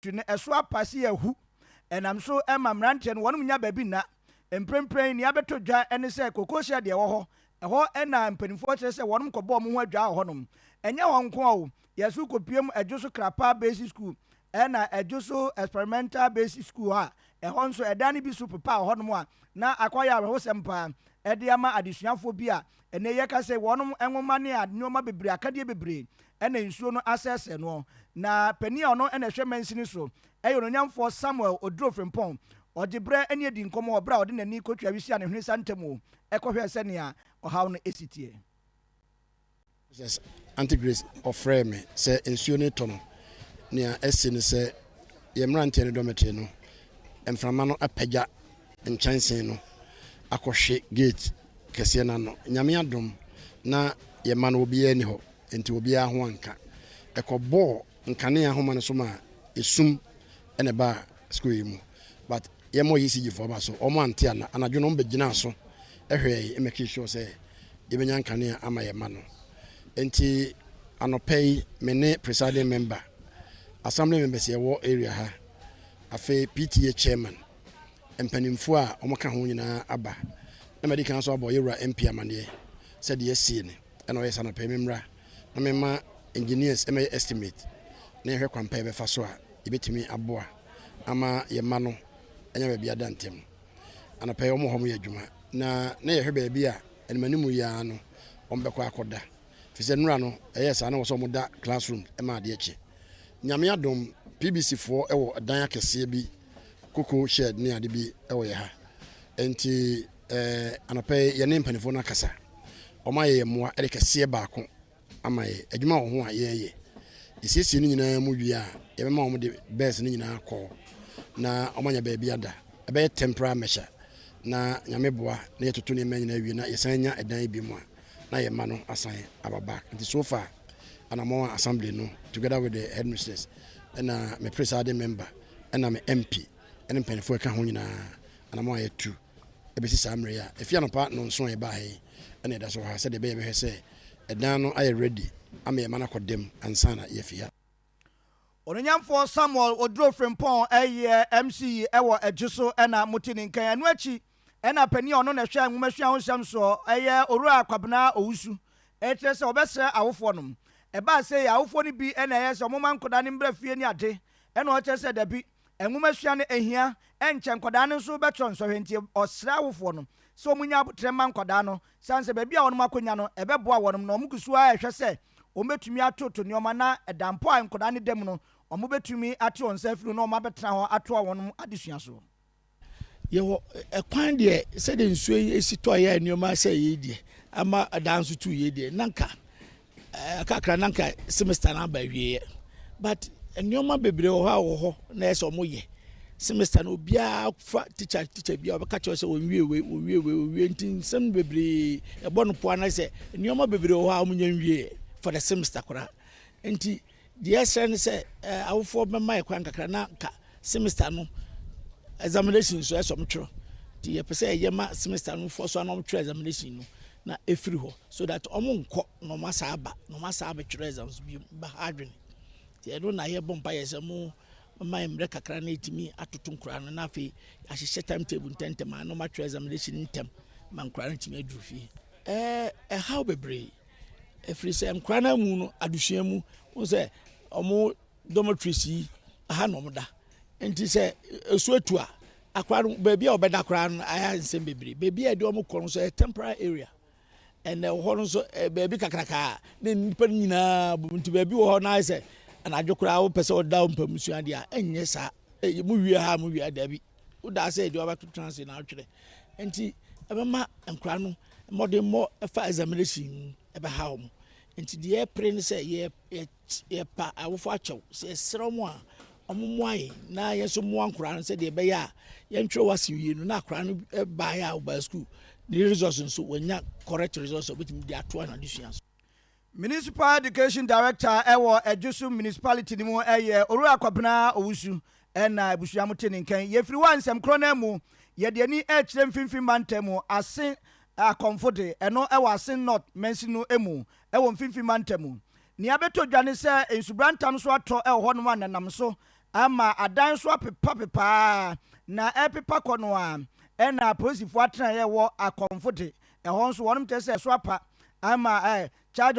Tu no ɛso apa se ahu. Ɛnam so ma mmeranteɛ no wɔnom nya baabi nna. Mprempren nea abɛtɔ dwa ne sɛ kokosia deɛ ɛwɔ hɔ. Ɛhɔ na mpanimfoɔ kyerɛ sɛ wɔnom kɔbɔ wɔn ho adwaa wɔ hɔnom. Ɛnyɛ hɔ nko ara o, yɛn so kɔpuem Adwo so Krapa Basic School ɛna Adwo so Experimental Basic School a ɛhɔ nso ɛdan no bi so pepa wɔ hɔnom a na akɔayɛ awerɛhosɛm pa ara de ama adesuafoɔ bi a ɛnnɛ yɛka sɛ wɔnom nwoma ne nneɛma bebree akadeɛ bebree na nsuo no asɛesɛe noɔ. Na panin a ɔno na ɛhwɛ mansini so yɛ Onuonyamfoɔ Samuel Oduro Frimpong. Ɔgye berɛ ne adi nkɔmmɔ wɔ berɛ a ɔde n'ani kɔtwaa wisia ne hwene sa ntamu kɔhwɛɛ sɛdeɛ ɔhaw no si teɛ. Mrs. Aunty Grace ɔfrɛɛ me sɛ nsuo no retɔ no, nea asi ne sɛ yɛn mmeranteɛ no dormitory no, mframa no apagya nkyɛnsee no akɔhwe gate kɛseɛ no ano. Nyame adom na yɛn mma no obiara nni hɔ. Enti obiara ho anka. Ɛkɔbɔɔ nkanea nhoma no so maa esum na ɛbaa sukuu yi mu. But yɛmmɔ ECG foɔ aba so, wɔn ante ana. Anadwo no wɔbɛgyinaa so hwɛɛ yɛn makee sure sɛ yɛbɛnya nkanea ama yɛn mma no. Enti anɔpa yi, me ne presiding member, assembly members a yɛwɔ area ha, afei PTA chairman, mpanimfoɔ a wɔka ho nyinaa aba. Na madi kan nso abɔ yɛn wura MP amaneɛ sɛ deɛ asie ni. ɛna ɔyɛ sɛ anɔpɛ me mmra na mema engineers ɛmɛyɛ estimate na yɛhwɛ kwan pa yɛbɛfa so a yɛbɛtumi aboa ama yɛn mma no anya baabi ada ntɛm anɔpɛ yɛ wɔn hɔ mo yɛ adwuma na na yɛhwɛ baabi a animanim yi ara no wɔn bɛkɔ akɔda fi sɛ nnura no ɛyɛ saa na wɔ sɛ wɔn da classroom ɛma adeɛ kye nyame adom pbc foɔ ɛwɔ dan akɛseɛ bi koko shed ne ade bi ɛwɔ yɛ ha nti Ɛɛ, anɔpa yi yɛne mpanimfoɔ no akasa. Wɔayɛ yɛn mmoa de kɛseɛ baako ama yɛn. Adwuma wɔ ho a yɛreyɛ. Yɛsiesie ne nyinaa mu wie a, yɛbɛma wɔn de bɛs no nyinaa kɔ na wɔanya baabi ada. Ɛbɛyɛ temporary measure na nyame boa na yɛtoto nneɛma nyinaa awie na yɛsan nya ɛdan bi mu a na yɛn mma no asan aba back. Nti so far anamɔn a assembly no together with the headmistress ɛna me presiding member ɛna me MP ɛne mpanimfoɔ ɛka ho nyinaa anammɔn a yɛatu bɛsi saa mmerɛ yi a ɛfi anɔpa nnɔnson a yɛbaa he na yɛda so wɔ ha sɛdeɛ ɛbɛyɛ bɛhwɛ sɛ ɛdan no ayɛ ready ama yɛma no akɔ dam ansa na yɛafi ha. Onuonyamfoɔ Samuel Oduro Frimpong yɛ MCE wɔ Adwo so na mote ne nkan. Ɛno akyi na panin a ɔno na ɛhwɛ nwomasua ho nsɛm soɔ yɛ Owura Kwabena Owusu rekyerɛ sɛ ɔbɛsrɛ awofoɔ nom. Ɛbaa sei a, awofoɔ no bi na ɛyɛ sɛ wɔma nkwadaa no mmra fie ne ade na wɔkyerɛ sɛ dabi. Nwomasua no hia, ɛnkyɛ nkwadaa no nso bɛtrɔ nsɔhwɛ nti ɔsrɛ awofoɔ no sɛ wɔn nyɛ aboterɛ mma nkwadaa no sane sɛ baabi a wɔn akɔnya no ɛbɛboa wɔn no wɔn guso ara ɛhwɛ sɛ wɔn bɛtumi atoto nnoɔma na ɛda mpo a nkwadaa no da mu no wɔn bɛtumi ate wɔn nsa afiri ho na wɔn abɛtena hɔ atoa wɔn adesua so. Yɛwɔ ɛkwan deɛ sɛdeɛ nsuo yi si tɔ yɛ nneɛma sɛ yei deɛ ama ɛdan nso tu yei deɛ na nka ɛɛ kakra na nka semester no aba awieɛ but nneɛma bebree wɔ hɔ a wɔ hɔ na ɛsɛ wɔn yɛ semester no obiara fa teacher teacher bi a ɔbɛka kyerɛ sɛ wɔn wie wei wɔn wie wei wɔn wie nti nsɛm bebree ɛbɔ no po anasɛ nneɛma bebree wɔ hɔ a wɔn nyɛ nwie for the semester koraa nti. Deɛ yɛsrɛ ne sɛ awofoɔ bɛma yɛ kwan kakra na ka semester no examination nso ɛsɛ wɔn twerɛ nti yɛpɛ sɛ yɛyɛ ma semester no foɔ so ana wɔn twerɛ examination no na ɛfiri hɔ so that wɔn nkɔ na wɔn asa aba na wɔn asa abɛtwerɛ exams bi ba ha adwene nti ɛno na yɛbɔ mpa yɛ sɛ mo ma mmerɛ kakra na ɛtumi atoto nkoraa no na afei ahyehyɛ time table ntɛntɛm a na wɔn atwerɛ examination ntɛm ma nkoraa no tumi aduru fie ɛɛ ɛhaw bebree Ɛfiri sɛ nkora no mu no adesua mu wo sɛ ɔmo dormitories yi aha na ɔmo da nti sɛ esu etu a akora no beebi a ɔbɛda koraa no ayɛ nsɛm bebree beebi a yɛde ɔmo kɔ no nso yɛ temporary area ɛnna ɛwɔ hɔ no nso eh, beebi kakraka ne nipa nyinaa bom nti beebi wɔ hɔ no ayɛ sɛ anadwo koraa wopɛ sɛ ɔda wo mpamu sua deɛ a ɛnyɛ saa eh, mu wie ha mu wie daabi wodaa sɛ ɛde wabɛto tena ase na atwerɛ nti ɛbɛma nkora no mmɔdenmmɔ ɛfa examination mu ɛbɛha wɔn nti deɛ ɛpere no sɛ yɛpa awofo akyɛw sɛ ɛserɛ wɔn a wɔmmoa yɛn na yɛn nso mmoa nkora no sɛdeɛ ɛbɛyɛ a yɛntwerɛ wɔ ase wie no na akora no baeɛ a wɔbaa sukuu ne results nso wɔanya correct results a wɔbɛtumi de atoa no adesua so Municipal Education Director wɔ Adwosu Municipality no mu yɛ Owura Kwabena Owusu na abusua mo te ne nkan. Yɛfiri hɔ a nsɛm korɔ no ara mu yɛde ani rekyerɛ Mfimfini Mantam mu, Ase Akɔmfo de, ɛno wɔ Asen North Mansini no mu wɔ Mfimfini Mantam mu. Nea abɛtɔ dwa ne sɛ nsubura ntam nso atɔ wɔ hɔnom a nanam so ama adan nso apepapepa ara na ɛrepepa kɔ no ara. Ɛna apolisifoɔ atenaeɛ wɔ Akɔmfo de, ɛhɔ nso wɔnom kyerɛ sɛ ɛso apa ama Charge